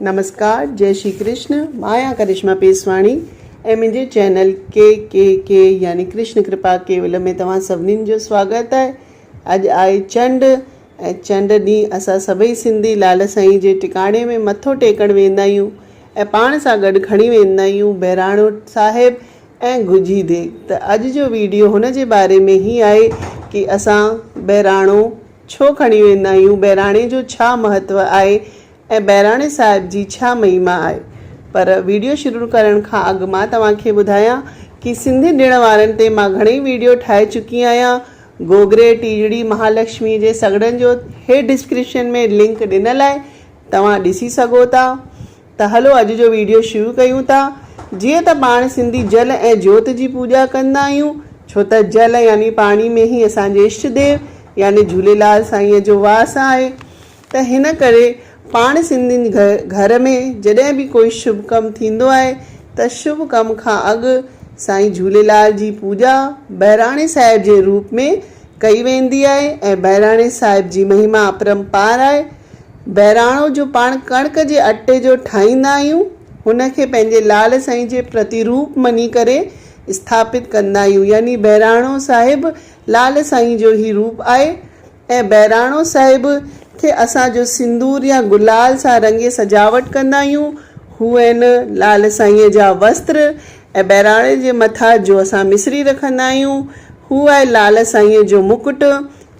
نمسڪار جئي شري ڪرشن مان آهيان ڪرشما پيسواڻي ۽ منهنجي چينل ڪي ڪي ڪي يعني ڪرشن ڪرپا ڪيولم ۾ توهان سڀني جو سواگت آهي اڄ آهي چنڊ ۽ چنڊ ڏينهن اسان سڀئي سنڌي لال سائين جي ٽڪاڻي ۾ مٿو ٽيڪڻ ويندا آهيون ۽ پاڻ سان گڏ کڻي ويندا آهيون بهراڻو صاحب ۽ گجي ديڳ ته اڄ جو ويڊيو هن جي باري ۾ هي آهي ڪي اسان بهراڻو ڇو کڻي ويندا آهيون، بهراڻي جو ڇا مهتو آهي ۽ بهراڻي صاحب جي ڇا مهيما آهي. پر ويڊيو شروع ڪرڻ کان اڳ مان توهان کي ٻڌايان ڪي سنڌي ڏڻ وارن تي مان گهڻئي ويڊيو ٺاهي چڪي آهيان، گوگري، ٽيجڙي، مهالڪشمي جي سگهڙن جو هيٺ ڊسڪرپشن ۾ لنڪ ڏنل آهي توهان ڏسي سگهو ٿا. ته هلو اڄ جو ويڊيو شروع ڪيون ٿا. جيئن ته پاڻ سنڌي جل ۽ جوت جي پوڄا ڪندا آهيون ڇو ته جل يعني پاڻي ۾ ئي اسان جي اشٽ ديو يعني جهوليلال سائينء جو واس آهي ته هن ڪري پاڻ سنڌين گهر ۾ جڏهن به ڪوئي شڀ ڪم ٿيندو آهي ته شڀ ڪم کان اڳ سائين جهوليلال جي پوڄا بهراڻي صاحب جي روپ ۾ ڪئي ويندي آهي ۽ بهراڻي صاحب جي مهما اپرمپار آهي. بهراڻو جو پاڻ ڪڻڪ جي اٽي جو ٺاهيندا آهيون، هن کي پنهنجي لال سائين جي پرتيروپ مڃي ڪري اسٿاپت ڪندا آهيون، يعني بهراڻو صاحب لال سائين جو هي روپ آهي ۽ بهراڻو صاحب کي اسان جو سندور يا گلال سان رڱي سجاوٽ ڪندا آهيون، هو ۽ لال سائينء جا وستر ۽ بهراڻي جي مٿا جو اسان مصري رکندا آهيون، هو آهي لال سائينء جو مڪٽ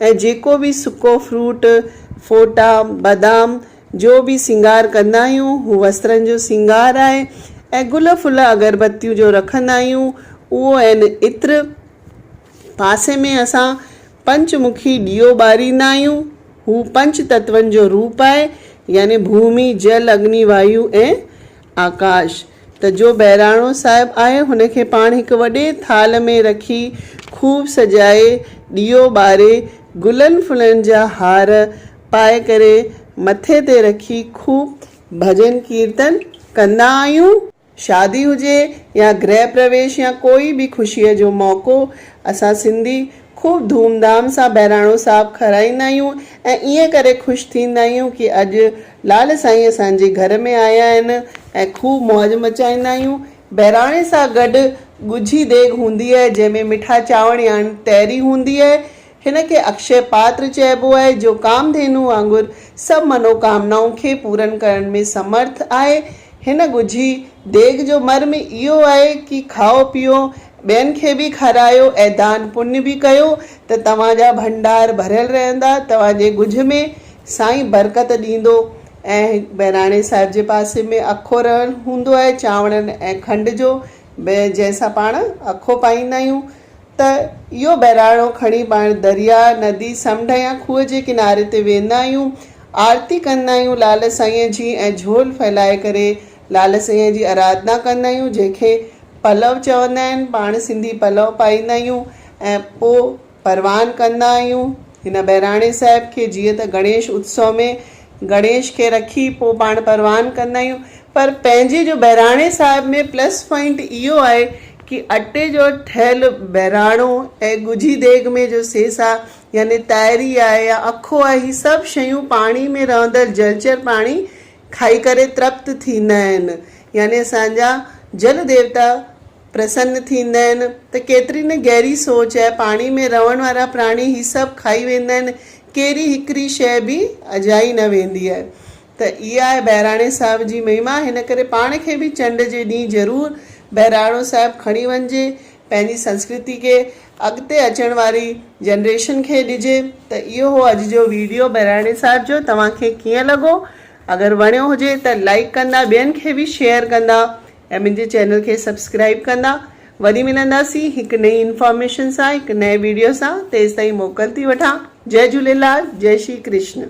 ۽ جيڪو به سڪو فروٽ، ڦوٽا، بادام جو به سينگار ڪندا آهيون، هو وسرن جو سينگار آهي ۽ گل ڦل اگربتيون جو رکندا آهيون، اهو آهن عطر. پاسي ۾ اسان پنچ مکي ڏيئو ٻاريندا آهيون، هو پنچ تتون جو روپ آهي، يعني ڀومي، جل، اگني، وايو ۽ آڪاش، ته جو بهراڻو صاحب آهي هن کي پاڻ هڪ وڏي ٿالهه ۾ رکي خوب سجائي ڏيئو ٻاري گلن ڦلن جا هار پائي ڪري مٿي تي رکي خوب ڀڄن ڪيرتن ڪندا آهيون. شادي هجي يا گرهه پرويش يا ڪوئي به خوشيء جو موقعو اسان سنڌي خوب ڌوم ڌام سان بهراڻو صاحب کارائيندا آهيون ۽ ائين ڪري خوش ٿيندا آهيون ڪي اڄ لعل سائين اسان جي گهر ۾ آيا آهن ۽ خوب موج مچائيندا آهيون. بهراڻي سان گڏ ڳجهي ديڳ هوندي آهي، جنهن ۾ مٺا چانور ياڻي تهري هوندي آهي. هن کي اڪشي پاتر چئبو آهي، جو ڪامڌينوء وانگر سڀ منوڪامنائون کي پورن ڪرڻ ۾ سمرٿ آهي. هن ڳجهي ديڳ جو مرم اهو آهي ڪي کائو پيئو، ٻين کي به کارايو ۽ دان پڃ به ڪيو ته توهان جا ڀنڊار ڀريل رهندا، توهان جي ڳجهه ۾ سائين برڪت ڏيندو ۽ هڪ بهراڻي صاحب جي پاسي ۾ اکو رهڻ هوندو آهي چانورن ۽ کنڊ جو جنهن سان پاڻ اکو پائيندا آهيون ته اهو بهراڻو کڻي پاڻ درياء، ندي، سمنڊ يا کوهه جي ڪناري تي ويندا آهيون آرتي ڪندا آهيون لعل سائينء جي ۽ جهول ڦهلائي ڪري لعل سائينء جي ارادنا ڪندا آهيون جنهن کي پلؤ چوندا آهن پاڻ سنڌي پلؤ پائيندا آهيون ۽ پوء پروان ڪندا آهيون هن بهراڻي صاحب کي جيئن ته گڻيش اتسو ۾ گڻيش کي رکي پوء پاڻ پروان ڪندا آهيون پر پنهنجي جو بهراڻي صاحب ۾ پلس پوائنٽ اهو آهي ڪي اٽي جو ٺهيل بهراڻو ۽ ڳجهي ديڳ ۾ جو سيسا يعني تائري آهي يا اکو آهي هي سڀ شيون پاڻي ۾ رهندڙ جلچر پاڻي کائي ڪري ترپت ٿيندا آهن يعني اسان جا جل ديوتا پرسن ٿيندا آهن ته ڪيتري نه گهري سوچ آهي. پاڻي ۾ رهڻ وارا پراڻي هي سڀ کائي ويندا آهن. ڪهڙي هڪڙي شيء به اجائي نه ويندي آهي. ته اها آهي بهراڻي صاحب جي مهما. هن ڪري پاڻ کي به چنڊ جي ڏينهن ضرور بهراڻو صاحب کڻي وڃجي. پنهنجي سنسڪرتي کي اڳتي اچڻ واري جنريشن کي ڏجي. ته اهو هو اڄ جو ويڊيو بهراڻي صاحب جو. توهان کي ڪيئن لڳو؟ اگر وڻيو هجي ته لائيڪ ڪندا ٻين کي به شيئر ڪندا. ۽ منهنجي چينل کي سبسڪرائيب ڪندا. وري ملنداسين هڪ نئين انفارميشن سان هڪ نئين ويڊيو سان تيستائين موڪل ٿي وٺان جئي جهوليلال جئي شري ڪرشن.